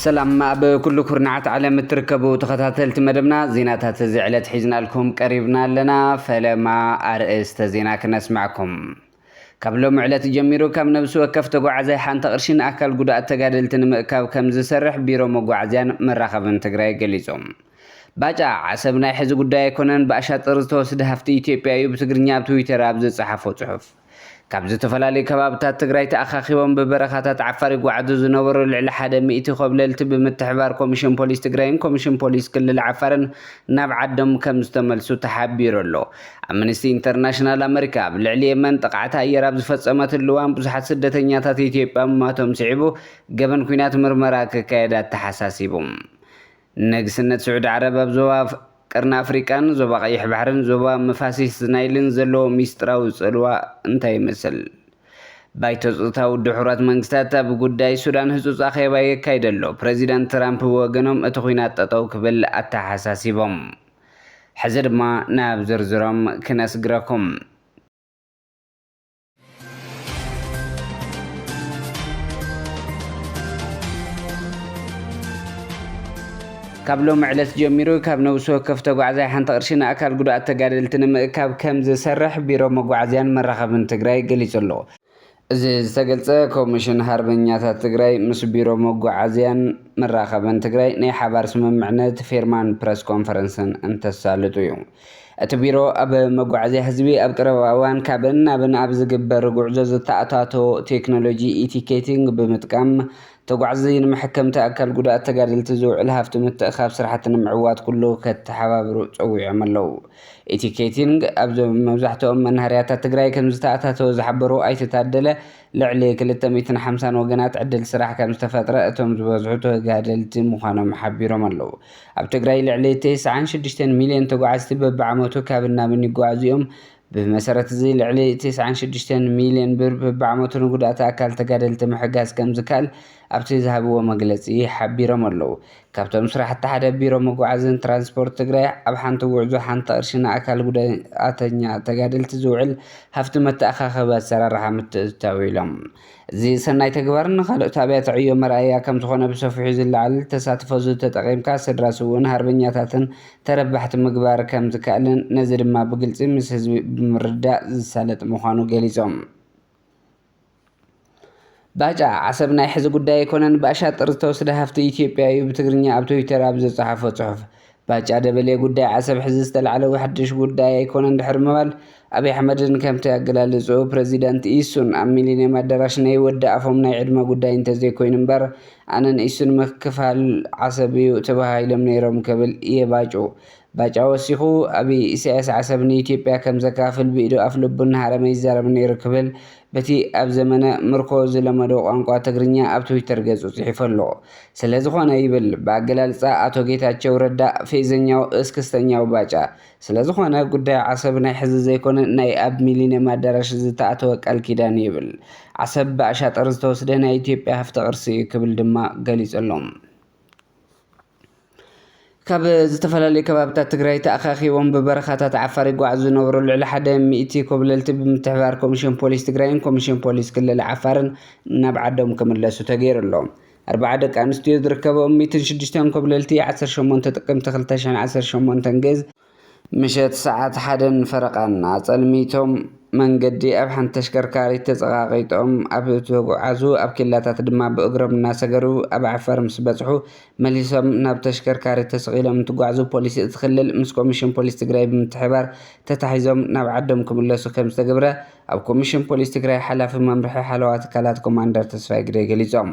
ሰላም ኣብ ኩሉ ኩርናዓት ዓለም እትርከቡ ተኸታተልቲ መደብና ዜናታት እዚ ዕለት ሒዝናልኩም ቀሪብና ኣለና። ፈለማ ኣርእስተ ዜና ክነስማዕኩም። ካብ ሎሚ ዕለት ጀሚሩ ካብ ነብሲ ወከፍ ተጓዓዛይ ሓንቲ ቅርሺ ንኣካል ጉዱኣት ተጋደልቲ ንምእካብ ከምዝሰርሕ ቢሮ መጓዓዝያን መራኸብን ትግራይ ገሊፁ። ባጫ ዓሰብ ናይ ሕዚ ጉዳይ ኣይኮነን ብኣሻጥር ዝተወስደ ሃፍቲ ኢትዮጵያ እዩ ብትግርኛ ኣብ ትዊተር ኣብ ዝፀሓፎ ፅሑፍ። ካብ ዝተፈላለዩ ከባብታት ትግራይ ተኣኻኺቦም ብበረኻታት ዓፋር ይጓዓዙ ዝነበሩ ልዕሊ ሓደ ሚእቲ ኾብለልቲ ብምትሕብባር ኮሚሽን ፖሊስ ትግራይን ኮሚሽን ፖሊስ ክልል ዓፋርን ናብ ዓዶም ከምዝተመልሱ ተሓቢሩ ኣሎ። ኣምንስቲ ኢንተርናሽናል ኣመሪካ ኣብ ልዕሊ የመን ጥቕዓት ኣየር ኣብ ዝፈጸመትሉ እዋን ብዙሓት ስደተኛታት ኢትዮጵያ ምሟቶም ስዒቡ ገበን ኲናት ምርመራ ክካየድ ኣተሓሳሲቡ። ንግስነት ስዑዲ ዓረብ ኣብ ዞባ ቀርኒ ኣፍሪቃን ዞባ ቀይሕ ባሕርን ዞባ መፋሲስ ናይልን ዘለዎ ሚስጥራዊ ጽልዋ እንታይ ይመስል? ባይቶ ጸጥታ ውድብ ሕቡራት መንግስታት ኣብ ጉዳይ ሱዳን ህጹጽ ኣኼባ የካይድ ኣሎ፣ ፕረዚዳንት ትራምፕ ብወገኖም እቲ ኲናት ጠጠው ክብል ኣተሓሳሲቦም። ሕዚ ድማ ናብ ዝርዝሮም ክነስግረኩም። ካብ ሎሚ ዕለት ጀሚሩ ካብ ነብሲ ወከፍ ተጓዕዛይ ሓንቲ ቅርሺ ንኣካል ጉዱኣት ተጋደልቲ ንምእካብ ከምዝሰርሕ ቢሮ መጓዓዝያን መራኸብን ትግራይ ገሊፁ ኣሎ። እዚ ዝተገልፀ ኮሚሽን ሃርበኛታት ትግራይ ምስ ቢሮ መጓዓዝያን መራኸብን ትግራይ ናይ ሓባር ስምምዕነት ፌርማን ፕረስ ኮንፈረንስን እንተሳልጡ እዩ። እቲ ቢሮ ኣብ መጓዓዝያ ህዝቢ ኣብ ቀረባ እዋን ካብን ናብን ኣብ ዝግበር ጉዕዞ ዝተኣታቶ ቴክኖሎጂ ኢቲኬቲንግ ብምጥቃም ተጓዕዚ ንመሐከምቲ ኣካል ጉዳኣት ተጋደልቲ ዝውዕል ሃፍቲ ምትእኻብ ስራሕቲ ንምዕዋት ኩሉ ከተሓባብሩ ፀዊዖም ኣለው። ኢቲኬቲንግ ኣብ መብዛሕትኦም መናሃርያታት ትግራይ ከምዝተኣታተወ ዝሓበሩ ኣይተ ታደለ፣ ልዕሊ ክልተ ሚእትን ሓምሳን ወገናት ዕድል ስራሕ ከምዝተፈጥረ እቶም ዝበዝሑ ተጋደልቲ ምዃኖም ሓቢሮም ኣለው። ኣብ ትግራይ ልዕሊ ተስዓን ሽዱሽተን ሚልዮን ተጓዓዝቲ በቢዓመቱ ካብን ናብን ይጓዓዙ እዮም። ብመሰረት እዚ ልዕሊ ተስዓን ሽዱሽተን ሚልዮን ብር በቢዓመቱ ንጉዳእቲ ኣካል ተጋደልቲ ምሕጋዝ ከምዝካል ኣብቲ ዝሃብዎ መግለፂ ሓቢሮም ኣለው። ካብቶም ስራሕቲ ሓደ ቢሮ መጓዓዝያን ትራንስፖርት ትግራይ ኣብ ሓንቲ ጉዕዞ ሓንቲ ቅርሺ ንኣካል ጉዳኣተኛ ተጋደልቲ ዝውዕል ሃፍቲ መተኣኻኸቢ ኣሰራርሓ ምትእትታው እዩ ኢሎም። እዚ ሰናይ ተግባር ንካልኦት ኣብያተ ዕዮ መርኣያ ከምዝኾነ ብሰፊሑ ዝለዓል ተሳትፎ እዚ ተጠቒምካ ስድራ ስውእን ሃርበኛታትን ተረባሕቲ ምግባር ከምዝከኣልን ነዚ ድማ ብግልፂ ምስ ህዝቢ ብምርድዳእ ዝሳለጥ ምዃኑ ገሊፆም። ባጫ ዓሰብ ናይ ሕዚ ጉዳይ ኣይኮነን ብኣሻጥር ዝተወስደ ሃፍቲ ኢትዮጵያ እዩ ብትግርኛ ኣብ ትዊተር ኣብ ዘጽሓፎ ጽሑፍ ባጫ ደበሌ ጉዳይ ዓሰብ ሕዚ ዝተላዕለ ሓድሽ ጉዳይ ኣይኮነን ድሕሪ ምባል ኣብይ ኣሕመድን ከምቲ ኣገላልጽኡ ፕረዚደንት ኢሱን ኣብ ሚሊንየም ኣዳራሽ ነይ ወዲ ኣፎም ናይ ዕድመ ጉዳይ እንተዘይኮይኑ እምበር ኣነን ኢሱን ምክፍፋል ዓሰብ እዩ ተበሃሂሎም ነይሮም ክብል እየ ባጩ ባጫ ወሲኹ፣ ኣብይ፣ ኢሳያስ ዓሰብ ንኢትዮጵያ ከም ዘካፍል ብኢዱ ኣፍልቡ እናሃረመ ይዛረብ ነይሩ ክብል በቲ ኣብ ዘመነ ምርኮ ዝለመዶ ቋንቋ ትግርኛ ኣብ ትዊተር ገጹ ጽሒፉ ኣሎ። ስለዝኾነ ይብል ብኣገላልጻ ኣቶ ጌታቸው ረዳ ፌዘኛው እስክስተኛው ባጫ ስለዝኾነ ጉዳይ ዓሰብ ናይ ሕዚ ዘይኮነ ናይ ኣብ ሚሊንየም ኣዳራሽ ዝተኣተወ ቃልኪዳን'ዩ ይብል። ዓሰብ ብኣሻጥር ዝተወስደ ናይ ኢትዮጵያ ሃፍቲ ቅርሲ እዩ ክብል ድማ ገሊጹ ኣሎ። ካብ ዝተፈላለዩ ከባብታት ትግራይ ተኣኻኺቦም ብበረኻታት ዓፋር ይጓዓዙ ዝነበሩ ልዕሊ ሓደ ሚእቲ ኮብለልቲ ብምትሕብባር ኮሚሽን ፖሊስ ትግራይን ኮሚሽን ፖሊስ ክልል ዓፋርን ናብ ዓዶም ክምለሱ ተገይሩ ኣሎ። ኣርባዓ ደቂ ኣንስትዮ ዝርከበኦም ሚእትን ሽዱሽተን ኮብለልቲ ዓሰርተ ሸሞንተ ጥቅምቲ ክልተ ሽሕን ዓሰርተ ሸሞንተን ግእዝ፣ ምሸት ሰዓት ሓደን ፈረቓን ኣጸልሚቶም መንገዲ ኣብ ሓንቲ ተሽከርካሪት ተጸቓቒጦም ኣብ ተጉዓዙ ኣብ ኬላታት ድማ ብእግሮም እናሰገሩ ኣብ ዓፋር ምስ በጽሑ መሊሶም ናብ ተሽከርካሪት ተሰቒሎም እንትጓዕዙ ፖሊስ እቲ ክልል ምስ ኮሚሽን ፖሊስ ትግራይ ብምትሕብባር ተታሒዞም ናብ ዓዶም ክምለሱ ከምዝተገብረ ኣብ ኮሚሽን ፖሊስ ትግራይ ሓላፊ መምርሒ ሓለዋ ትካላት ኮማንደር ተስፋይ ግደይ ገሊጾም።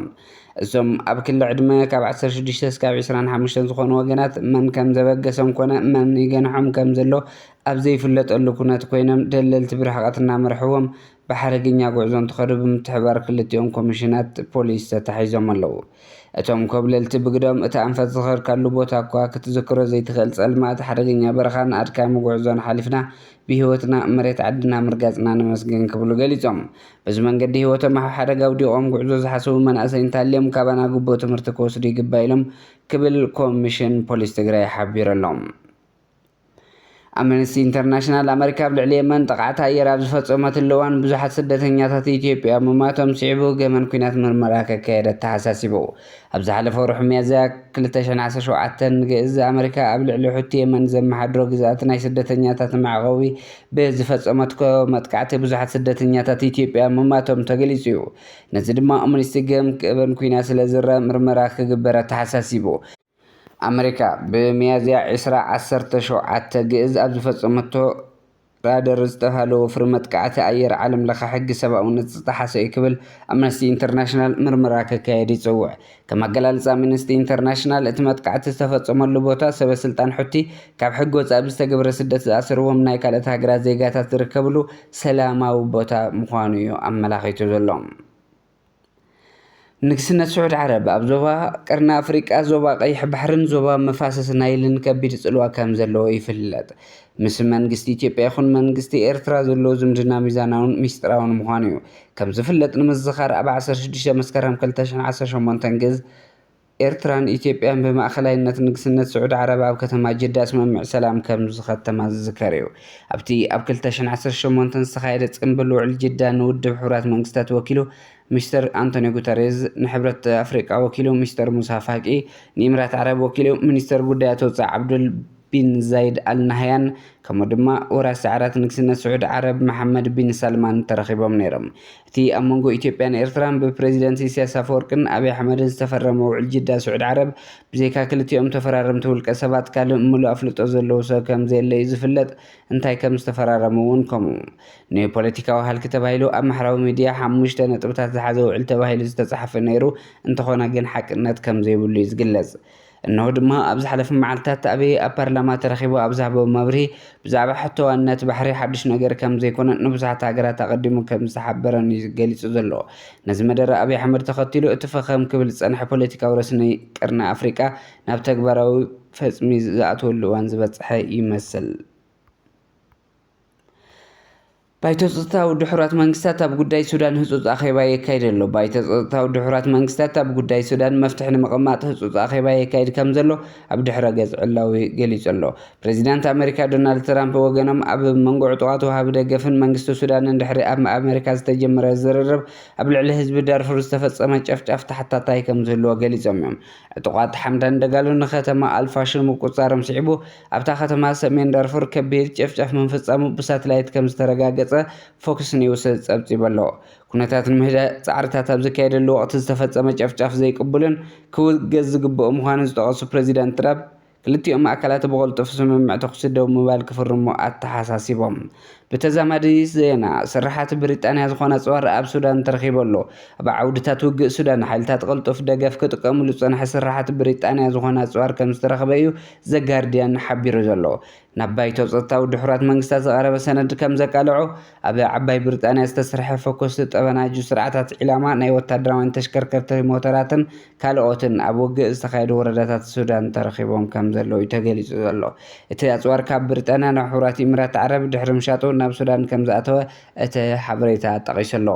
እዞም ኣብ ክሊ ዕድመ ካብ ዓሰርተ ሽዱሽተ እስካብ ዕስራን ሓሙሽተን ዝኾኑ ወገናት መን ከም ዘበገሶም ኮነ መን ይገንሖም ከም ዘሎ ኣብ ዘይፍለጠሉ ኩነት ኮይኖም ደለልቲ ብርሕቐት እናመርሕዎም ብሓረገኛ ጉዕዞ እንትኸዱ ብምትሕብባር ክልቲኦም ኮሚሽናት ፖሊስ ተታሒዞም ኣለው። እቶም ኮብለልቲ ብግደኦም እቲ ኣንፈት ዝኸድካሉ ቦታ እኳ ክትዝክሮ ዘይትኽእል ፀልማት፣ ሓደገኛ በረኻን ኣድካሚ ጉዕዞን ሓሊፍና ብሂወትና መሬት ዓድና ምርጋፅና ነመስግን ክብሉ ገሊፆም። በዚ መንገዲ ህይወቶም ኣብ ሓደጋ ኣውዲቖም ጉዕዞ ዝሓሰቡ መናእሰይ እንተሃልዮም ካባና ግቡእ ትምህርቲ ክወስዱ ይግባእ ኢሎም ክብል ኮሚሽን ፖሊስ ትግራይ ሓቢሩ ኣሎ። ኣምነስቲ ኢንተርናሽናል ኣመሪካ ኣብ ልዕሊ የመን ጥቕዓት ኣየር ኣብ ዝፈጸመትሉ እዋን ብዙሓት ስደተኛታት ኢትዮጵያ ምሟቶም ስዒቡ ገመን ኲናት ምርመራ ከካየድ ኣተሓሳሲቡ። ኣብ ዝሓለፈ ወርሒ ሚያዝያ ክልተ ሽሕን ዓሰርተ ሸውዓተን፣ ንግእዝ ኣመሪካ ኣብ ልዕሊ ሑቲ የመን ዘመሓድሮ ግዝኣት ናይ ስደተኛታት መዕቖቢ ብዝፈጸመትኮ መጥቃዕቲ ብዙሓት ስደተኛታት ኢትዮጵያ ምማቶም ተገሊጹ እዩ። ነዚ ድማ ኦምኒስቲ ገም ክእበን ኩይና ስለ ዝርኣ ምርመራ ክግበር ኣተሓሳሲቡ። ኣመሪካ ብሚያዝያ ዕስራ ዓሰርተ ሸውዓተ ግእዝ ኣብ ዝፈጸመቶ፣ ራደር ዝተብሃለ ወፍሪ መጥቃዕቲ ኣየር ዓለምለኸ ሕጊ ሰብኣውነት ዝጠሓሰ እዩ ክብል ኣምነስቲ ኢንተርናሽናል ምርመራ ከካየድ ይጽውዕ። ከም ኣገላልጻ ኣምነስቲ ኢንተርናሽናል እቲ መጥቃዕቲ ዝተፈጸመሉ ቦታ ሰበ ስልጣን ሑቲ ካብ ሕጊ ወጻኢ ብዝተገብረ ስደት ዝኣሰርዎም ናይ ካልኦት ሃገራት ዜጋታት ዝርከብሉ ሰላማዊ ቦታ ምዃኑ እዩ ኣመላኺቱ ዘሎ። ንግስነት ስዑድ ዓረብ ኣብ ዞባ ቀርኒ ኣፍሪቃ፣ ዞባ ቀይሕ ባሕሪን ዞባ መፋሰስ ናይልን ከቢድ ጽልዋ ከም ዘለዎ ይፍለጥ። ምስ መንግስቲ ኢትዮጵያ ይኹን መንግስቲ ኤርትራ ዘሎ ዝምድና ሚዛናውን ሚስጥራውን ምዃኑ እዩ። ከም ዝፍለጥ ንምዝኻር ኣብ ዓሰርተ ሽዱሽተ መስከረም ክልተ ሽሕን ዓሰርተ ሸሞንተን ግዝ፣ ኤርትራን ኢትዮጵያን ብማእከላይነት ንግስነት ስዑዲ ዓረብ ኣብ ከተማ ጅዳ ስምምዕ ሰላም ከም ዝኸተማ ዝዝከር እዩ። ኣብቲ ኣብ ክልተ ሽሕን ዓሰርተ ሸሞንተን ዝተኻየደ ጽምብል ውዕል ጅዳ ንውድብ ሕቡራት መንግስታት ወኪሉ ሚስተር ኣንቶንዮ ጉተሬዝ፣ ንሕብረት ኣፍሪቃ ወኪሉ ሚስተር ሙሳ ፋቂ፣ ንኢምራት ዓረብ ወኪሉ ሚኒስተር ጉዳያት ወጻኢ ዓብዱል ቢን ዛይድ ኣል ናህያን ከምኡ ድማ ወራሲ ዓራት ንግስነት ስዑዲ ዓረብ መሓመድ ቢን ሳልማን ተረኺቦም ነይሮም። እቲ ኣብ መንጎ ኢትዮጵያን ኤርትራን ብፕረዚደንት ኢሳያስ ኣፈወርቅን ኣቢይ ኣሕመድን ዝተፈረመ ውዕል ጅዳ ስዑድ ዓረብ ብዘይካ ክልቲኦም ተፈራረምቲ ውልቀ ሰባት ካልእ ምሉእ ኣፍልጦ ዘለዎ ሰብ ከምዘየለ'ዩ ዝፍለጥ፣ እንታይ ከምዝተፈራረሙ'ውን ከምኡ። ንፖለቲካዊ ሃልኪ ተባሂሉ ኣብ ማሕራዊ ሚድያ ሓሙሽተ ነጥብታት ዝሓዘ ውዕል ተባሂሉ ዝተጻሕፈ ነይሩ፣ እንተኾነ ግን ሓቅነት ከምዘይብሉ'ዩ ዝግለጽ። እነሆ ድማ ኣብ ዝሓለፉ መዓልታት ኣቢይ ኣብ ፓርላማ ተረኺቡ ኣብ ዝሃቦ መብርሂ ብዛዕባ ሕቶ ዋንነት ባሕሪ ሓዱሽ ነገር ከም ዘይኮነን ንብዙሓት ሃገራት ኣቐዲሙ ከም ዝተሓበረን እዩ ገሊጹ ዘሎ። ነዚ መደረ ኣቢይ ኣሕመድ ተኸቲሉ እቲ ፈኸም ክብል ዝጸንሐ ፖለቲካዊ ረስኒ ቀርኒ ኣፍሪቃ ናብ ተግባራዊ ፈጽሚ ዝኣትወሉ እዋን ዝበጽሐ ይመስል። ባይቶ ጸጥታ ውድብ ሕቡራት መንግስታት ኣብ ጉዳይ ሱዳን ህጹጽ ኣኼባ የካይድ ኣሎ። ባይቶ ጸጥታ ውድብ ሕቡራት መንግስታት ኣብ ጉዳይ ሱዳን መፍትሒ ንምቕማጥ ህጹጽ ኣኼባ የካይድ ከምዘሎ ኣብ ድሕረ-ገጽ ዕላዊ ገሊጹ ኣሎ። ፕረዚዳንት ኣመሪካ ዶናልድ ትራምፕ ብወገኖም ኣብ መንጎ ዕጡቓት ወሃቢ ደገፍን መንግስቲ ሱዳንን ድሕሪ ኣብ ኣመሪካ ዝተጀመረ ዝርርብ ኣብ ልዕሊ ህዝቢ ዳርፉር ዝተፈጸመ ጨፍጫፍ ተሓታታይ ከምዝህልዎ ገሊጾም'ዮም። ዕጡቓት ሓምዳን ደጋሎ ንከተማ ኣል-ፋሽር ምቁጽጻሮም ስዒቡ ኣብታ ከተማ ሰሜን ዳርፉር ከቢድ ጨፍጫፍ ምፍጻሙ ብሳትላይት ከም ዝተረጋገጸ ፎክስ ኒውስ ጸብጺቡ ኣሎ። ኩነታት ንምህዳእ ጻዕርታት ኣብ ዝካየደሉ ወቕቲ ዝተፈጸመ ጨፍጫፍ ዘይቅቡልን ክውገዝ ዝግብኦ ምዃኑ ዝጠቐሱ ፕረዚዳንት ትራፕ፣ ክልቲኦም ኣካላት ብቕልጡፍ ስምምዕ ተኹሲ ደው ምባል ክፍርሙ ኣተሓሳሲቦም። ብተዛማዲ ዜና፣ ስርሓት ብሪጣንያ ዝዀነ ኣጽዋር ኣብ ሱዳን ተረኺቡ ኣሎ። ኣብ ዓውድታት ውግእ ሱዳን፣ ሓይልታት ቅልጡፍ ደገፍ ክጥቀሙሉ ዝጸንሐ ስርሓት ብሪጣንያ ዝዀነ ኣጽዋር ከም ዝተረኽበ'ዩ ዘጋርድያን ሓቢሩ ዘሎ ናብ ባይቶ ጸጥታዊ ድሑራት መንግስታት ዝቐረበ ሰነድ ከም ዘቃለዖ፣ ኣብ ዓባይ ብሪጣንያ ዝተሰርሐ ፈኮስቲ ጠበናጁ ስርዓታት ዒላማ ናይ ወታደራውያን ተሽከርከርቲ ሞተራትን ካልኦትን ኣብ ውግእ ዝተኻየዱ ወረዳታት ሱዳን ተረኺቦም ከም ዘለዉ'ዩ ተገሊጹ ዘሎ። እቲ ኣጽዋር ካብ ብሪጣንያ ናብ ሕቡራት ኢሚራት ዓረብ ድሕሪ ምሻጡ ናብ ሱዳን ከም ዝኣተወ እቲ ሓበሬታ ጠቒሱ ኣሎ።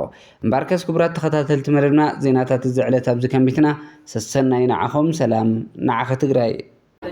እምበኣርከስ ክቡራት ተኸታተልቲ መደብና ዜናታት እዚ ዕለት ኣብዚ ከንቢትና ሰሰናዩ ንዓኹም ሰላም ንዓኺ ትግራይ።